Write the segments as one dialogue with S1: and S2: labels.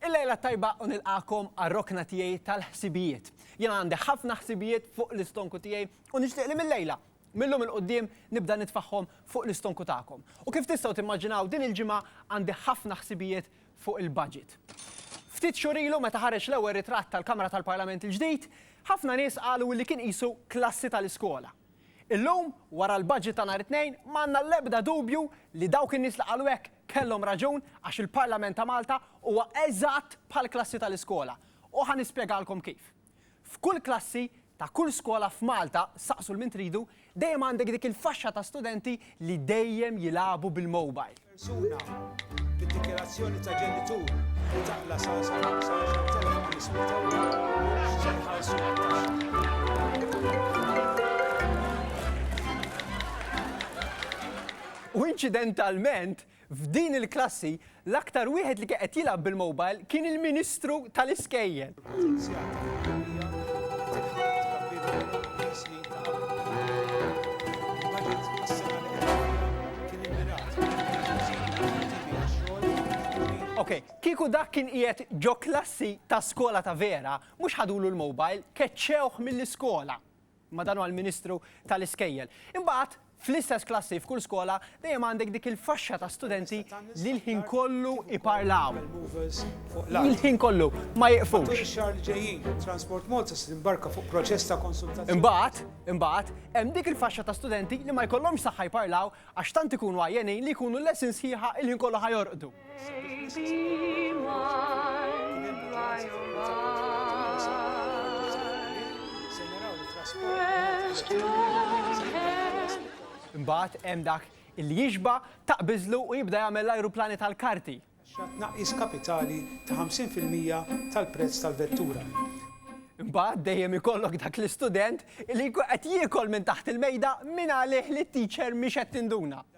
S1: Il-lejla t-tajba u nilqagħkom għar-rokna tiegħi tal-ħsibijiet. Jien għandi ħafna ħsibijiet fuq l-istonku tiegħi u nixtieq li mil-lejla, mil-lum 'il quddiem nibda nitfagħhom fuq l-istonku tagħkom. U kif tistgħu timmaġinaw din il-ġimgħa għandi ħafna ħsibijiet fuq il-budget. Ftit xhur ilu meta ħareġ l-ewwel ritratt tal-Kamra tal-Parlament il-ġdid, ħafna nies qalu li kien qisu klassi tal-iskola. Illum, wara l-budget ta' nhar it-Tnejn, ma għandna l-ebda dubju li dawk in-nies li qalu hekk Kellhom raġun għax il-Parlament ta' Malta huwa eżatt bħall-klassi tal-iskola. U ħa nispjegalkom kif. F'kull klassi ta' kull skola f'Malta, saqsu 'l min tridu, dejjem għandek dik il-faxxa ta' studenti li dejjem jilagħbu bil-mobile. Persuna
S2: b'dikjarazzjoni ta' ġenitur li taqla' sa 10,500 ewro mhumiex se jħallsu t-taxxa.
S1: U inċidentalment, f'din il-klassi, l-aktar wieħed li kien qed jilgħab bil-mobile kien il-Ministru tal-Iskejjel. Ok, kieku dak kien qiegħed ġo klassi ta' skola ta' vera, mhux ħadulu l-mobile, keċċewh mill-iskola. ma' dan huwa l-Ministru tal-Iskejjel. Imbagħad, fl-istess klassi f'kull skola dejjem għandek dik il-faxxa ta' studenti li l-ħin kollu jparlaw. Il-ħin kollu, ma jiqfux.
S2: Imbagħad, imbagħad,
S1: hemm dik il-faxxa ta' studenti li ma jkollhomx saħħa jparlaw għax tant ikunu għajjenin li jkunu l-lesin sħiħa l-ħin kollu ħa jorqdu. Imbagħad hemm dak li jixba' taqbiżlu u jibda jagħmel l-ajruplani tal-karti. Tnaqqis
S2: kapitali ta' 50 fil-mija tal-prezz tal-vettura. Imbagħad
S1: dejjem ikollok dak l-istudent li jkun qed jiekol minn taħt il-mejda mingħalih li t-teacher mhix qed tinduna.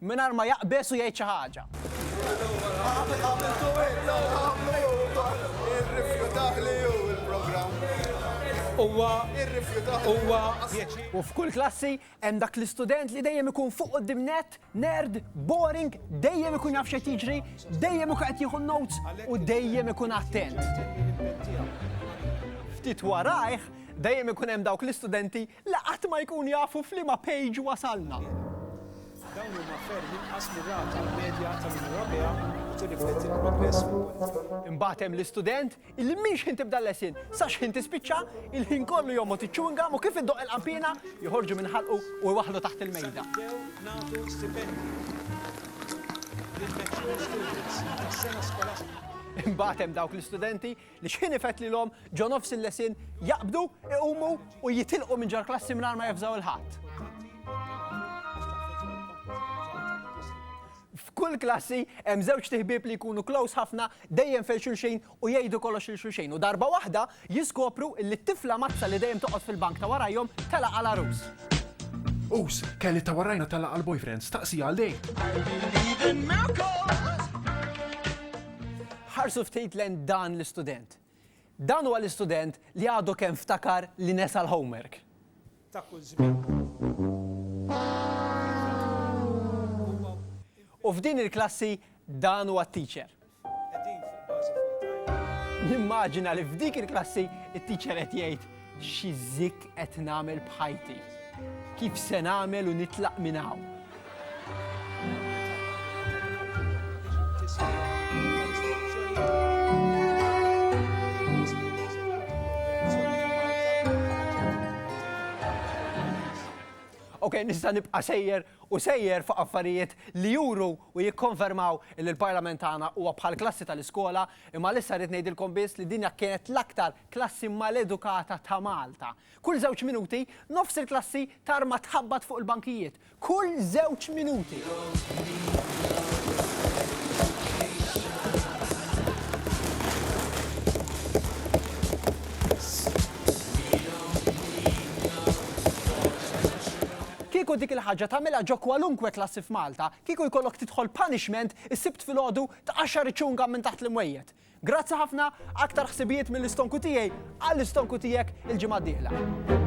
S1: Mingħajr ma jaqbeż u jgħid xi ħaġa. U f'kull klassi hemm dak l-istudent li dejjem ikun fuq quddiem nett, nerd, boring, dejjem ikun jaf x'qed jiġri, dejjem ikun qed jieħu n-notes u dejjem ikun attent. Ftit warajh, dejjem ikun hemm dawk l-istudenti La qatt ma jkunu jafu f'liema page wasalna. Dawn
S2: huma ferm inqas mir-rata medja tal-Unjoni Ewropea u tirrifletti l-progress fil-kwalità. Imbagħad hemm l-istudent
S1: illi minn x'ħin tibda l-lesson sa x'ħin tispiċċa, il-ħin kollu jgħommod iċ-chewing gum u kif iddoqq il-qanpiena, joħorġu minn ħalqu u jwaħħlu taħt il-mejda. Sa nibdew nagħtu
S2: stipendji lill-mature students tas-sena skolastika. Imbagħad hemm dawk
S1: l-istudenti Li xħin ifett lilhom ġo nofs il-lesson jaqbdu, iqumu u jitilqu minn ġol-klassi mingħajr ma jafżaw 'il ħadd. F'kull klassi hemm żewġt iħbieb li jkunu close ħafna dejjem fejn xulxin u jgħidu kollox lil xulxin u darba waħda jiskopru illi t-tifla mazza li dejjem toqgħod fil-bank ta' warajhom telaq għal għarus. Us,
S3: Kelly ta' warajna telaq għal boyfriend, staqsija għal dejn.
S1: Ħarsu ftit lejn dan l-istudent. Dan huwa l-istudent li għadu kemm ftakar li nesa l-homework. ta' kull
S2: żmien.
S1: U f'din il-klassi dan huwa t-teacher. Qegħdin
S2: fuq bażi full-time. Nimmaġina li
S1: f'dik il-klassi it-teacher qed jgħid, Xi zikk qed nagħmel b'ħajti? Kif se nagħmel u nitlaq minn hawn? ok, nista' nibqa' sejjer u sejjer fuq affarijiet li juru u jikkonfermaw li l-Parlament tagħna huwa bħal klassi tal-iskola, imma lissa rrid ngħidilkom biss li dinja kienet l-aktar Klassi maledukata ta' Malta. Kull żewġ minuti, nofs il-klassi tarma tħabbat fuq il-bankijiet. Kull żewġ minuti! Kieku dik il-ħaġa tagħmilha ġo kwalunkwe klassi f'Malta, kieku jkollok tidħol punishment is-Sibt filgħodu tqaxxar iċ-chewing gum minn taħt l-imwejjed. Grazzi ħafna, aktar ħsibijiet mill-istonku tiegħi għall-istonku tiegħek il-ġimgħa d-dieħla.